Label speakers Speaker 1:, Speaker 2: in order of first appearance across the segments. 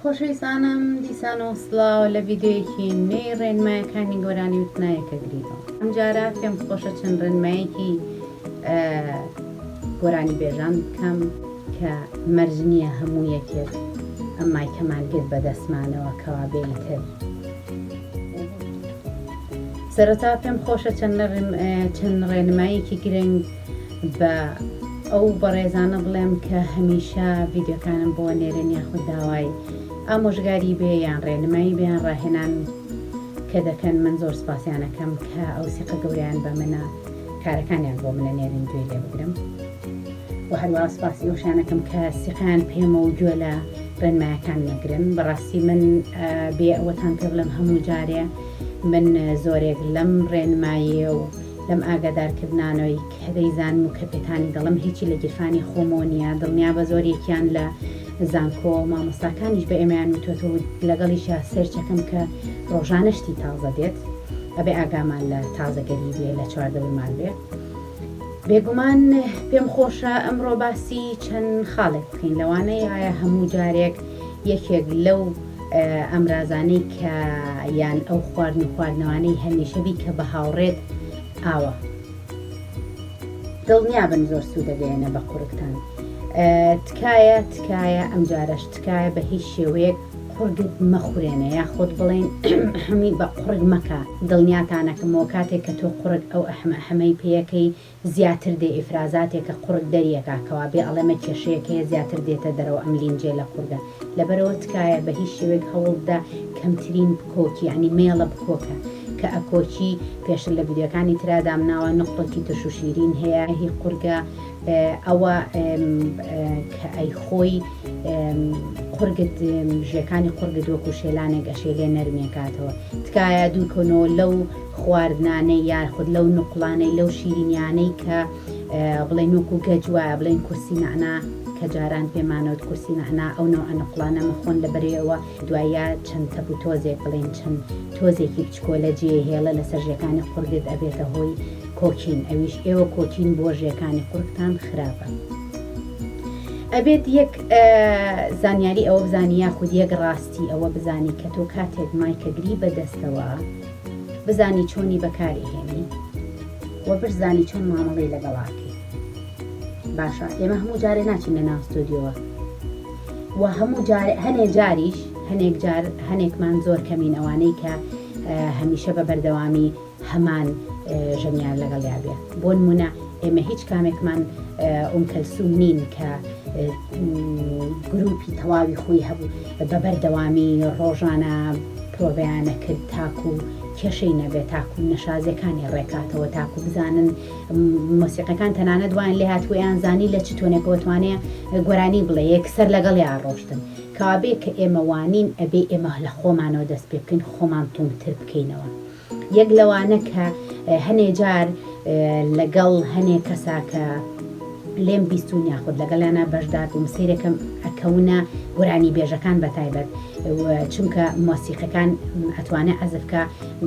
Speaker 1: خۆشەویستانم دیسان و سڵاو لە ڤیدیۆیەکی نوێی ڕێنمایەکانی گۆرانی وتنایەکە گریدەوە ئەمجارە پێم خۆشە چەند ڕێنمایەکی گۆرانی بێژان بکەم کە مەرج نییە هەموو یەکێک ئەم مایکەمان گرت بە دەستمانەوە کەوابێی تر سەرەتا پێم خۆشە چەند چەند ڕێنمایەکی گرنگ بە ئەو بەڕێزانە بڵێم کە هەمیشە ڤیدیۆکانم بۆ نێرن یاخود داوای ئامۆژگاری بێ یان ڕێنمایی بێیان ڕاهێنان کە دەکەن من زۆر سپاسیانەکەم کە ئەو سیقە گەوریان بە منە کارەکانیان بۆ منە نێرن گوێ لێ بگرم و هەروە سپاسی ئەوشانەکەم کە سیقیان پێمە و گوێ لە ڕێنمایەکان نەگرن بەڕاستی من بێ ئەوەتان پێ بڵم هەموو جارێ من زۆرێک لەم ڕێنمایە و لەم ئاگادارکردنانەی کە دەیزانم و کە پێتانی دەڵێم هیچی لە گیرفانی خۆمەوە نییە، دڵنیابە زۆریەکیان لە زانکۆ، مامۆستاکانیش بە ئێمەیان وتووەتەوە و لەگەڵیشا سێرچەکەم کە ڕۆژانە شتی تازە دێت، ئەبێ ئاگامان لە تازەگەری بێ لە چواردەورمان بێ. بێگومان پێم خۆشە ئەمڕۆ باسی چەند خاڵێک بکەین، لەوانەیە هەموو جارێک یەکێک لەو. ئامرازانەی کە یان ئەو خواردن و خواردنەوانەی هەمیشەبی کە بە هاوڕێت ئاوە دڵنیابن زۆر سوودەگەیەنە بە قورگتان تکایە تکایە ئەم جارەش تکایە بە هیچ شێوەیەک قورگت مەخورێنە یا خۆت بڵێن هەمی بە قڕگ مەکە دڵنیاتانەکەمەوە کاتێک کە تۆ قڕگ ئەو ئەحمە حەمەی پێەکەی زیاتر دێ ئیفرازاتێکە قوڕگ دەریەکا کەوا بێ ئەڵێمە کێشەیەک هەیە زیاتر دێتە دەرەوە ئەم لینجەی لە قوڕگە لەبەرەوە تکایە بە هیچ شێوەیەک هەوڵ بدە کەمترین بکۆکی یانی مێڵە بکۆکە کە ئەکۆکی پێشتر لە ڤیدیۆکانی ترا دامناوە نوقڵەکی ترش و شیرین هەیە هی قوڕگە ئەوە کە ئەی خۆی قوڕگت ژێکانی قوڕگت وەکو شێلانێک ئەشێلێ نەرمێکاتەوە تکایە دوور کۆنەوە لەو خواردنانەی یاخود لەو نوقڵانەی لەو شیرینیانەی کە بڵێن وەکو گەج وایە بڵێن کورسی نەعنا کە جاران پێمانەوت کورسی نەعنا ئەو نەوعە نوقڵانە مەخۆن لەبەرەی ئەوە دوایە چەند تەپ و تۆزێک بڵێن چەند تۆزێکی بچکۆلە جێ هێڵە لەسەر ژێکانی قوڕگت ئەبێتە هۆی کۆکین ئەویش ئێوە کۆکین بۆ ژێکانی قوڕگتان خراپە ئەبێت یەک زانیاری ئەوە بزانی یاخود یەک ڕاستی ئەوە بزانی کە تۆ کاتێک مایکەگری بەدەستەوە. بزانی چۆنی بەکاری هێنی وە برزانی چۆن مامەڵەی لەگەڵاکەی باشە ئێمە هەموو جارێ ناچین لە ناو ستۆدیۆوە و هەموو جار هەنێ جاریش هەنێک جار هەنێکمان زۆر کەمین ئەوانەی کە هەمیشە بە بەردەوامی هەمان ژەنیار لەگەڵ یابێ بۆ نمونە ئێمە هیچ کامێکمان ئۆم کەلسوم نین کە گروپی تەواوی خۆی هەبوو بە بەردەوامی ڕۆژانە پرۆڤەیانە کرد تاکو کێشەی نەبێت تاکو نەشازیەکانی ڕێکاتەوە تاکو بزانن مۆسیقەکان تەنانەت وایان لێ هات وەیان زانی لە چ تۆنێکەوە توانێ گۆرانی بڵێ یەکسەر لەگەڵیا ڕۆشتن کەوابێ کە ئێمە وانین ئەبێ ئێمە لە خۆمانەوە دەست پێ بکەین خۆمان توندتر بکەینەوە. یەک لەوانە کە هەنێ جار لەگەڵ هەنێ کەسا کە لێم بیستون یاخود لەگەڵیانا بەشدار بووم سەیرەکەم ئەکەونە گۆرانی بێژەکان بەتایبەت چونکە مۆسیقەکان ئەتوانێ عەزفکە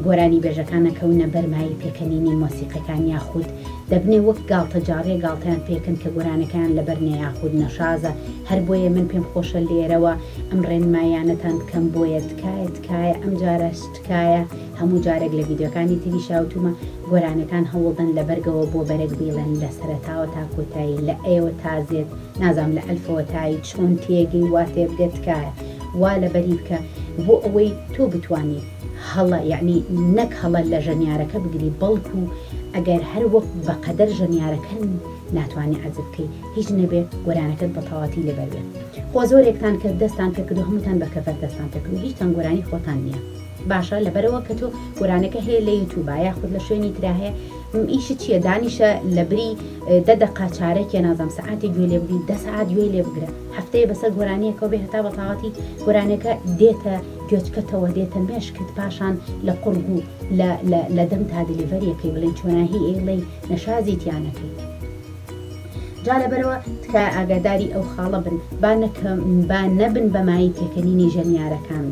Speaker 1: گۆرانی بێژەکانە کەونە بەرمایی پێکەنینی مۆسیقەکان یاخود دەبنێ وەک گاڵتە جاڕێ گاڵتەیان پێکەن کە گۆرانەکان لەبەرنێ یاخود نەشازە هەر بۆیە من پێم خۆشە لێرەوە ئەم ڕێنمایانەتان بکەم بۆیە تکایە تکایە ئەم جارە تکایە هەموو جارێک لە ڤیدیۆکانی تریشا وتومە گۆرانیەکان هەوڵدەن لە بەرگەوە بۆ بەرەک بیڵێن لە سەرەتاوە تا کۆتایی لە ئەیەوە تا زێد نازام لە ئەلفەوە تا ی چۆن تێگەی وا تێ بگە تکایە وا لە بەری بکە بۆ ئەوەی تۆ بتوانی هەڵە یەعنی نەک هەڵە لە ژەنیارەکە بگری بەڵکو ئەگەر هەر وەک بە قەدەر ژەنیارەکە ناتوانی عەزف بکەی هیچ نەبێ گۆرانەکەت بە تەواتی لەبەر بێ. خۆ زۆرێکتان کرد دەستان پێکردو هەمووتان بە کەڤەر دەستان پێکردو هیچتان گۆرانی خۆتان نیە باشە لەبەرئەوە کە تۆ گۆرانێکە هەیە لە یوتوبا یاخود لە شوێنی ترا هەیە ئیشت چیە دانیشە لەبری دە دەقا چارەکێ نازانم سەعاتێ گوێ لێ بگری دە سەعات گوێ لێ بگرە هەفتەیە بەسەر گۆرانیەکەو بێ هەتا بەتاواتی گۆرانێکە دێتە گوێچکەتەوە دێتە مێشکت پاشان لە قوڕگ و لە دەمتا دلیڤەریەکەی بڵێن چۆناهی ئەیڵێی نەشازی تیا نەکەی. جا لەبەرەوە تکایە ئاگاداری ئەو خاڵە بن با نەکەم با نەبن بە مایەی پێکەنینی ژەنیارەکان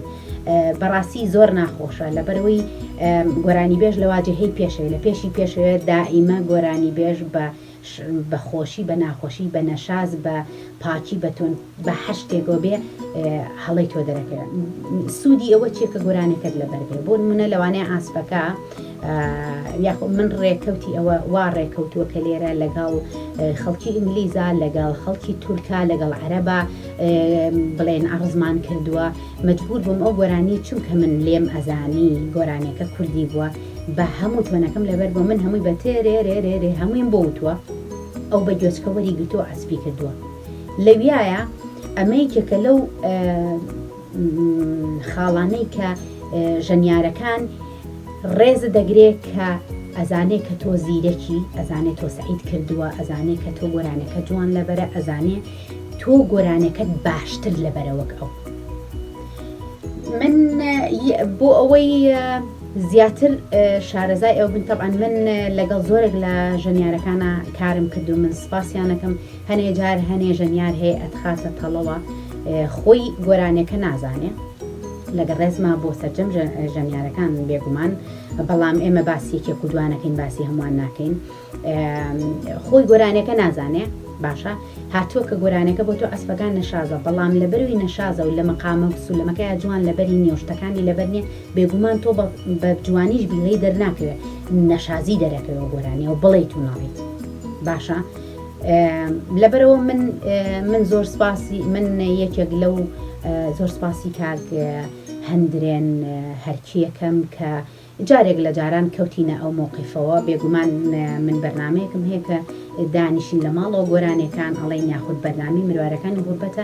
Speaker 1: بەڕاستی زۆر ناخۆشە لەبەرەوەی گۆرانی بێژ لە واجهەی پێشەوە لە پێشی پێشەوە دائیمە گۆرانی بێژ بە بە خۆشی بە ناخۆشی بە نەشاز بە پاکی بە تۆن بە حەشتێک وە بێ هەڵەی تۆ دەرەکە سودی ئەوە چیە کە گۆرانێکەت لەبەر بێ بۆ نمونە لەوانەیە ئاسپەکە یاخۆ من ڕێکەوتی ئەوە وا ڕێکەوتووە کە لێرە لەگەڵ خەڵکی ئینگلیزا لەگەڵ خەڵکی تورکا لەگەڵ عەرەبا بڵێن ئەڕزمان کردووە مجبور بووم ئەو گۆرانی چونکە من لێم ئەزانی گۆرانێکە کوردی بووە بە هەموو تۆنەکەم لەبەر بۆ من هەمووی بە تێرێ رێ رێ رێ هەموویم بۆ وتووە ئەو بە گوێچکە وەری گرتووە ئەسپی کردووە لەویایە ئەمە یەکێکە لەو خاڵانەی کە ژەنیارەکان ڕێزە دەگرێت کە ئەزانێ کە تۆ زیرەکی ئەزانێت تۆ سعید کردووە ئەزانێ کە تۆ گۆرانەکە جوان لەبەرە ئەزانێ تۆ گۆرانەکەت باشتر لەبەرەوەک ئەو من بۆ ئەوەی زیاتر شارەزای ئەو بن تەبان من لەگەڵ زۆرێک لە ژەنیارەکانە کارم کردو من سپاسیانەکەم هەنێ جار هەنێ ژەنیار هەیە ئەتخاتە تەڵەوە خۆی گۆرانێکە نازانێ لەگە ڕێزما بۆ سەرجەم ژەنیارەکان بێگومان بەڵام ئێمە باسی یەکێک و دوانەکەین باسی هەمووان ناکەین خۆی گۆرانێکە نازانێ باشە هاتووە کە گۆرانەکە بۆ تۆ ئەسپەکان نەشازە بەڵام لە بەروی نەشازە و لە مەقامە سولەمەکەی جوان لەبەری نیۆشتەکانی لەبەرنیە بێگومان تۆ بە جوانیش بیڵی دەرناکەوێت نەشازی دەرەکەەوە گۆرانیەوە بڵیت و ناڵیت باشە لەبەرەوە من من زۆر سپاسی من یەکێک لەو زۆر سپاسی کاک هەندرێن هەرکیەکەم کە جارێک لە جاران کەوتینە ئەو مۆقیفەوە بێگومان من بەرنمەیەکم هەیە کە دانیشین لە ماڵەوە گۆرانەکان ئەڵین یاخود بەرنامی مروارەکانی غوربەتە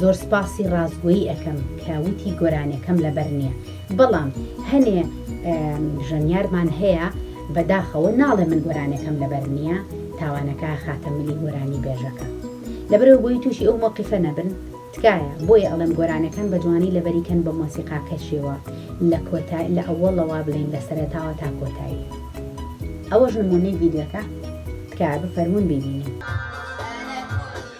Speaker 1: زۆر سپاسی ڕاستگۆیی ئەکەم کە وتی گۆرانیەکەم لەبەر نییە بەڵام هەنێ ژەنیارمان هەیە بەداخەوە ناڵێ من گۆرانەکەم لەبەر نییە تاوانەکە خاتە ملی گۆرانی بێژەکە لەبەرەوە بۆی تووشی ئەو مۆقیفە نەبن تکایە بۆیە ئەڵێم گۆرانەکان بە جوانی لەبەریکەن بە مۆسیقاکەشیەوە لە کۆتا لە ئەوەڵەوە بڵین لە سەرەتاوە تا کۆتایی ئەوەش نمونەی ڤیدیۆکە تکایە بفەرمون بیبینین.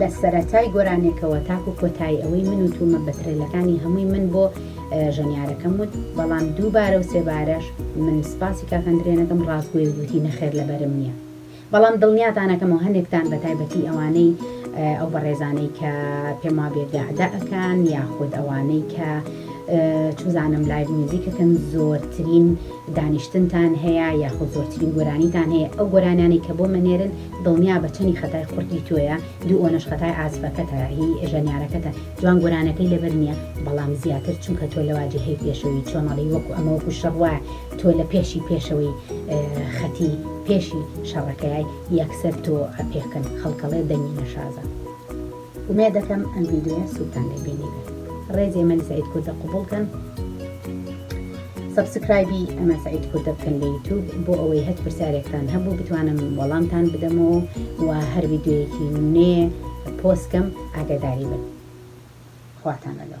Speaker 1: لە سەرەتای گۆرانێکەوە تاکو کۆتایی ئەوەی من وتومە بە ترێلەکانی هەمووی من بۆ ژەنیارەکەم وت بەڵام دووبارە و سێبارەش من سپاسی کاک ئەندرێ نەکەم ڕاستگۆی و گوتی نەخێر لەبەرم نییە. بەڵام دڵنیاتان ئەکەم و هەنێکتان بە تایبەتی ئەوانەی ئەو بەڕێزانەی کە پێم وابێ گەعدە ئەکان یاخود ئەوانەی کە چوزانم لایڤ میوزیک ئەکەن زۆرترین دانیشتنتان هەیە یاخود زۆرترین گۆرانیتان هەیە ئەو گۆرانیانەی کە بۆم ئەنێرن دڵنیابە چەنی خەتای قورگی تۆیە دوو ئۆنەش خەتای عازفەکەتە هی ژەنیارەکەتە جوان گۆرانیەکەی لەبەر نیە بەڵام زیاتر چونکە تۆ لەواجی هەی پێشەوی چۆن ئەڵێی وەکو ئەمە وەکو شەڕ وایە تۆ لە پێشی پێشەوەی خەتی پێشی شەڕەکەیای یەکسەر تۆ ئەپێکن خەڵکەڵێ دەنگی نەشازە ئومێدەکەم ئەم ڤیدیۆیە سوودتان لێ بینیبێت ڕێزێ مەلی سعید کوردە قوبوڵ کەن سبسکرایبی ئەمە سعید کوردە بکەن لە یوتوب بۆ ئەوەی هەت پرسیارێکتان هەبوو بتوانم وەڵامتان بدەمەوە و هەر ڤیددیوەیەکی نێ پۆستکەم ئاگداری بن خواتان لەگەڵ